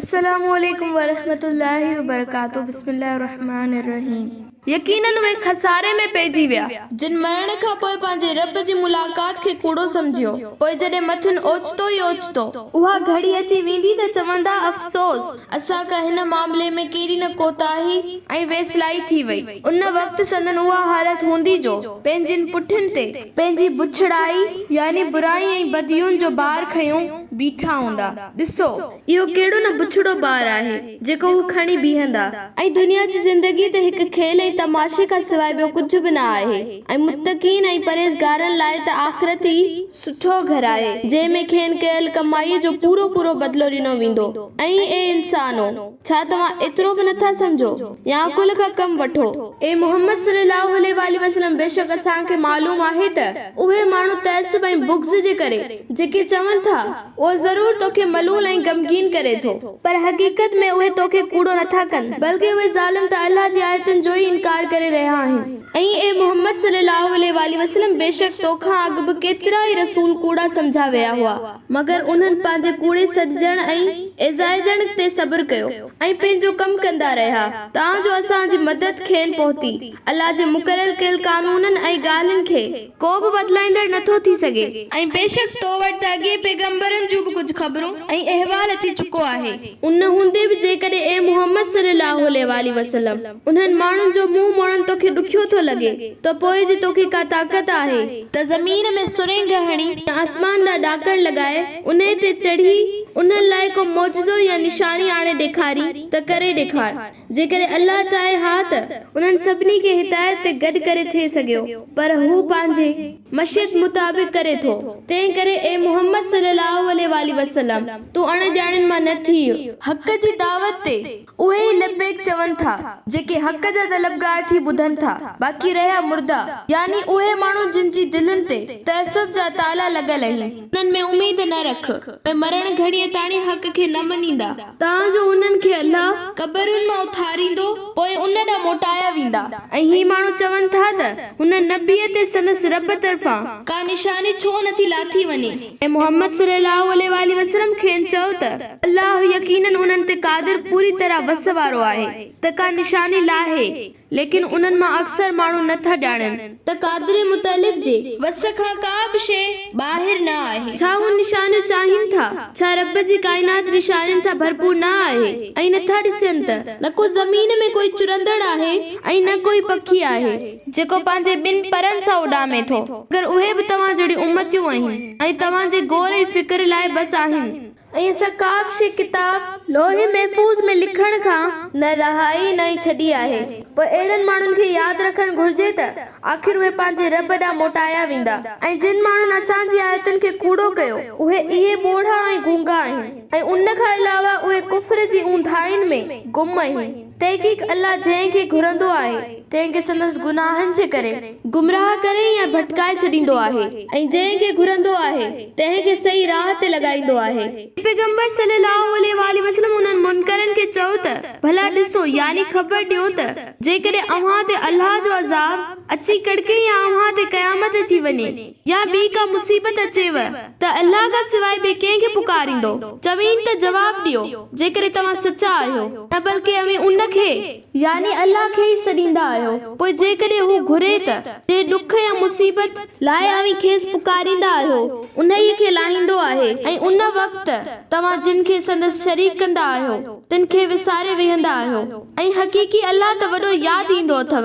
السلام عليڪم ورحمة الله وبرڪاته بسم الله الرحمٰن الرحيم. يقيناً اهي خساري ۾ پئجي ويا، جن مرڻ کان پوء پنهنجي رب جي ملاقات کي ڪوڙو سمجهيو، پوء جڏهن مٿن اوچتو ئي اوچتو. اها گهڙي اچي ويندي ته چوندا، افسوس! اسان کان هن معاملي ۾ ڪيڏي نه ڪوتاهي ۽ ويسلائي ٿي وئي. ان وقت سندن اها حالت هوندي جو پنهنجين پٺين تي پنهنجي بڇڙائي يعني برائي ۽ بديون جو بار کنيو بيٺا هوندا. ڏسو! اهو ڪهڙو نه بڇڙو بار آهي جيڪو هو کڻي بيهندا. ۽ دنيا جي زندگي ته هڪ کيل ۽ تماشي کان سواء ٻيو ڪجهه به نه آهي ۽ متقين ۽ پرهيزگارن لاء ته آخرت ئي سٺو گهرائي، جنهن ۾ کين ڪيل ڪمائيء جو پورو پورو بدلو ڏنو ويندو. ۽ اي انسانو! ڇا توهان ايترو به نه ٿا سمجهو؟ يا عقل کان ڪم وٺو. اي محمد صلي الله عليه واٰله وسلم! بيشڪ اسان کي معلوم آهي ته اهي ماڻهو تعصب ۽ بغض جي ڪري جيڪي چون ٿا، اهو ضرور تو کي ملول ۽ غمگين ڪري ٿو. پر حقيقت ۾ اهي تو کي ڪوڙو نه ٿا ڪن، بلڪه اهي ظالم ته الله جي آيتن جو ئي انڪار ڪري رهيا آهن. ائين اي محمد صلّي اللّٰه عليه واٰله وسلّم! بيشڪ تو کان اڳ به ڪيترائي رسول ڪوڙا سمجھيا ويا هئا، مگر انهن پنهنجي ڪوڙي سڏجڻ ۽ ايذائجڻ تي صبر ڪيو ۽ پنهنجو ڪم ڪندا رهيا، تان جو اسان جي مدد کين پهتي، الله جي مقرر ڪيل قانونن ۽ ڳالهين کي. ڪو به بدلائيندڙ نه ٿو ٿي سگهي. ۽ بيشڪ تو وٽ ته اڳين پيغمبرن جون به ڪجهه خبرون ۽ احوال اچي چڪو آهي. ان هوندي به جيڪڏهن اي محمد صلّي اللّٰه عليه واٰله وسلّم انهن ماڻهن جو منهن موڙڻ توکي ڏکيو ٿو لڳي ته پوء جي توکي ڪا طاقت آهي، ته زمين ۾ سرنگهه هڻي، يا آسمان ڏانهن ڏاڪڻ لڳائي، انهي تي چڙهي، انهن لاء ڪو معجزو يا نشاني آڻي ڏيکارين ته ڪري ڏيکار. جيڪڏهن الله چاهي ها ته انهن سڀني کي هدايت تي گڏ ڪري ٿي سگهيو پر هو پنهنجي مشيت مطابق ڪري ٿو تنهن ڪري اي محمد صلي الله عليه واٰله وسلم تون اڻ ڄاڻين مان نه ٿيء. حق جي دعوت تي اهي ئي لبيڪ چون ٿا جيڪي حق جا طلبگار ٿي ٻڌن ٿا باقي رهيا مرده يعني اهي ماڻهو جن جي دلين تي تعصب جا تالا لڳل اهين. انهن ۾ اميد نه رک، اهي مرڻ گهڙيء تاڻي حق کي نه مڃيندا. تان جو انهن کي الله قبرن مان اٿاريندو، پوء ان ڏانهن موٽايا ويندا. ۽ هي ماڻهو چون ٿا ته، هن نبيء تي سندس رب طرفان. ڪا نشاني ڇو نه ٿي لاٿي وڃي؟ اي محمد صلّي اللّٰه عليه واٰله وسلّم کين چؤ ته، الله يقيناً انهن تي قادر پوري طرح وس وارو آهي ته ڪا نشاني لاهي. ليڪن انهن مان اڪثر ماڻهو نه ٿا ڄاڻن. ته قادري متعلق جي وس کان ڪا به شيء ٻاهر نه آهي. ڇا هو نشانيون چاهين ٿا؟ ڇا رب جي ڪائنات نشانين سان ڀرپور نه آهي ۽ نه ٿا ڏسين ته نه ڪو زمين ۾ ڪوئي چرندڙ آهي ۽ نه ڪوئي پکي آهي جيڪو پنهنجي ٻن پرن سان اڏامي ٿو. مگر اهي به توهان جهڙيون امتيون آهن ۽ توهان جي غور ۽ فڪر لاء بس آهن. ۽ اسان ڪابه شيء ڪتاب، لوح محفوظ، ۾ لکڻ کان نه رهائي نه ئي ڇڏي آهي. پوء اهڙن ماڻهن کي ياد رکڻ گهرجي ته آخر اهي پنهنجي رب ڏانهن موٽايا ويندا ۽ جن ماڻهن اسان جي آيتن کي ڪوڙو ڪيو، اهي اهي ٻوڙا ۽ گونگا آهن ۽ ان کان علاوه اهي ڪفر جي اونداهين ۾ گم آهن. تحقيق الله جنهن کي گهرندو آهي، تنهن کي سندس گناهن جي ڪري گمراهه ڪري يا ڀٽڪائي ڇڏيندو آهي ۽ جنهن کي گهرندو آهي، تنهن کي صحيح راهه تي لڳائيندو آهي. پيغمبر صلّي اللّٰه عليه واٰله وسلّم انهن منڪرن کي چئو ته، ڀلا ڏسو، يعني خبر ڏيو ته، جيڪڏهن اوهان تي الله جو عذاب اچي ڪڙڪي يا اوهان تي قيامت اچي وڃي، يا ٻي ڪا مصيبت اچيو ته الله کان سواء ٻئي ڪنهن کي پڪاريندؤ؟ چوين ته جواب ڏيو جيڪڏهن توهان سچا آهيو ته بلڪه اوهين ان کي، يعني الله کي، ئي سڏيندا آهيو، پوء جيڪڏهن هو گهري ته جنهن ڏک يا مصيبت لاء اوهين کيس پڪاريندا آهيو انهيء کي لاهيندو آهي ۽ ان وقت توهان جن کي سندس شريڪ ڪندا آهيو تن کي وساري ويهندا آهيو ۽ حقيقي الله ته وڏو ياد ايندو اٿو.